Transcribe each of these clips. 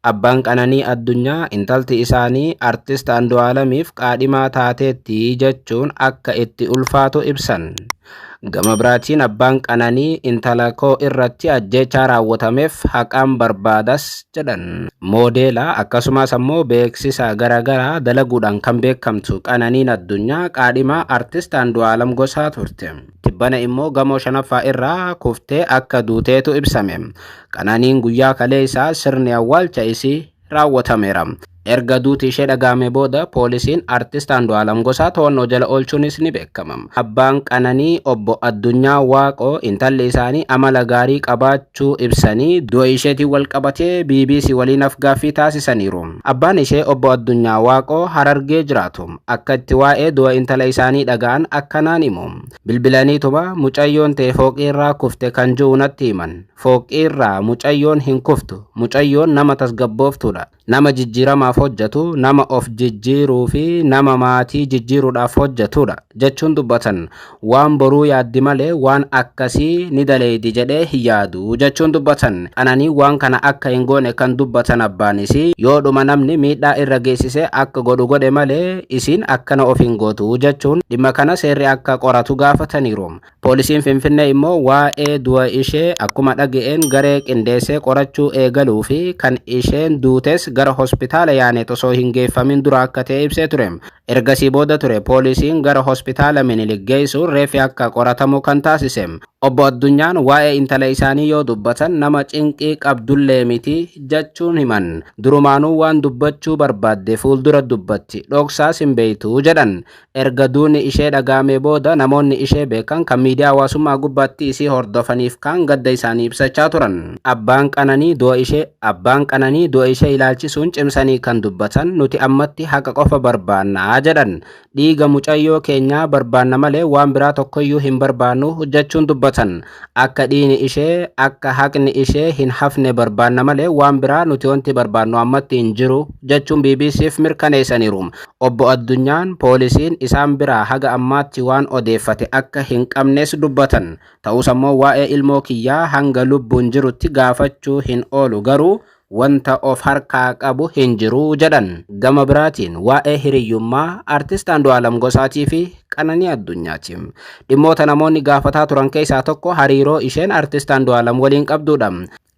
Abbaan Qananii Addunyaa intalti isaanii Artist Andu'aalamiif qaadhimaa taateetti jechuun akka itti ulfaatu ibsan. Gama biraatiin abbaan Qananii intala koo irratti ajjeechaa raawwatameef haqaan barbaadas jedhan. Moodeela akkasumas ammoo beeksisa garaagaraa dalaguudhaan kan beekamtu Qananiin Addunyaa qaadhimaa Artist Andu'aalam Gosaa turte. Tibbana immoo gamoo shanaffaa irraa kuftee akka duuteetu ibsame. Qananiin guyyaa kaleessaa sirni awwaalcha isii raawwatameera. Erga duuti ishee dhaga'ame booda poolisiin Artist Andu'aalam Gosaa to'annoo jala oolchuunis ni beekama. Abbaan Qananii obbo Addunyaa Waaqoo intalli isaanii amala gaarii qabaachuu ibsanii du'a isheetiin walqabatee bbc waliin afgaaffii taasisaniiru. Abbaan ishee obbo Addunyaa Waaqoo Harargee jiraatu. Akka itti waa'ee du'a intala isaanii dhaga'an akkanaan himu. Bilbilaniituma mucayyoon tee fooqiirraa kufte kan ji'u natti himan. Fooqiirraa mucayyoon hin kuftu. Mucayyoon nama tasgabbooftuudha. Nama jijjiiramaaf hojjatu, nama of jijjiiruufi nama maatii jijjiiruudhaaf hojjatuudha, jechuun dubbatan. Waan boruu yaaddi malee waan akkasii ni daleeydi jedhee hin yaadu, jechuun dubbatan. Qananii waan kana akka hin goone kan dubbatan abbaan isii, yoodhuma namni miidhaa irra geessise akka godhu godhe malee isiin akkana of hin gootu, jechuun dhimma kana seerri akka qoratu gaafataniiru. Poolisiin Finfinnee immoo waa'ee du'a ishee akkuma dhaga'een garee qindeessee qorachuu eegaluu fi kan isheen duutes gara hospitaala Yaaneet osoo hin geeffamin dura akka ta'e ibsee ture. Ergasii booda ture poolisiin gara Hospitaala Minilik geessuun reeffi akka qoratamu kan taasise. Obbo Addunyaan waa'ee intala isaanii yoo dubbatan nama cinqii qabdullee miti jechuun himan. Durumaanuu waan dubbachuu barbaadde fuuldura dubbatti, dhoksaas hin beektu, jedhan. Erga duuni ishee dhaga'amee booda namoonni ishee beekan kan miidiyaa hawaasummaa gubbaatti isii hordofaniif kaan gadda isaanii ibsachaa turan. Abbaan Qananii du'a ishee Abbaan Qananii du'a ishee ilaalchisuun cimsanii kan dubbatan nuti ammatti haqa qofa barbaanna jedhan. Dhiiga mucayyoo keenyaa barbaanna malee waan biraa tokkoyyuu hin barbaannu jechuun dubbatan. Akka dhiini ishee akka haqni ishee hin hafne barbaanna malee waan biraa nuti wanti barbaannu ammatti hin jiru jechuun BBC'f mirkaneessaniiru. Obbo Addunyaan poolisiin isaan biraa haga ammaatti waan odeeffate akka hin qabnes dubbatan. Ta'us ammoo waa'ee ilmoo kiyyaa hanga lubbuun jirutti gaafachuu hin oolu garuu wanta of harkaa qabu hin jiru jedhan. Gama biraatiin waa'ee hiriyyummaa Artist Andu'aalam Gosaatii fi Qananii Addunyaati. Dhimmoota namoonni gaafataa turan keessaa tokko hariiroo isheen Artist Andu'aalam waliin qabduudha.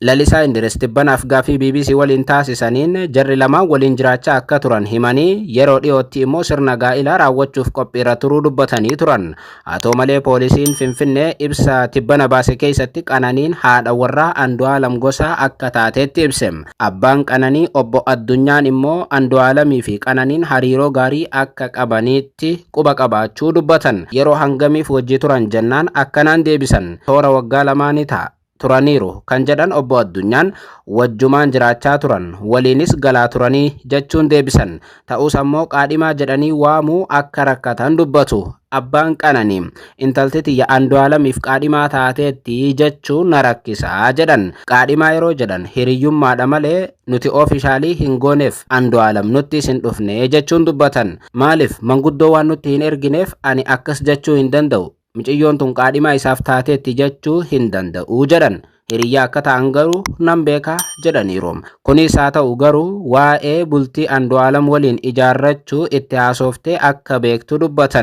Lalisaa Indiris tibbana af-gaaffii bbc waliin taasisaniin jarri lamaan waliin jiraachaa akka turan himanii, yeroo dhiyootti immoo sirna gaa'ilaa raawwachuuf qophiirra turuu dubbatanii turan. Haa ta'u malee poolisiin Finfinnee ibsa tibbana baase keessatti Qananiin haadha warraa Andu'aalam Gosaa akka taateetti ibse. Abbaan Qananii Obbo Addunyaan immoo Andu'aalamii fi Qananiin hariiroo gaarii akka qabaniitti quba qabaachuu dubbatan. Yeroo hangamiif wajji turan jennaan akkanaan deebisan, Toora waggaa lamaa ni ta'a. turaniiru kan jedhan Obbo Addunyaan, wajjumaan jiraachaa turan, waliinis galaa turanii jechuun deebisan. Ta'us ammoo qaadhimaa jedhanii waamuu akka rakkatan dubbatu. Abbaan Qananii, intalti tiyya Andu'aalamiif qaadhimaa taateetti jechuu na rakkisa, jedhan. Qaadhimaa yeroo jedhan hiriyyummaadha malee nuti oofishaalii hin gooneef, Andu'aalam nuttis hin dhufne, jechuun dubbatan. Maaliif manguddoo waan nutti hin ergineef ani akkas jechuu hin danda'u, Miciyyoon tun qaadhimaa isaaf taateetti jechuu hin danda'u jedhan. Hiriyyaa akka ta'an garuu nan beeka jedhaniiru. Kunis haa ta'u garuu waa'ee bultii Andu'aalam waliin ijaarrachuu itti haasooftee akka beektu dubbatan.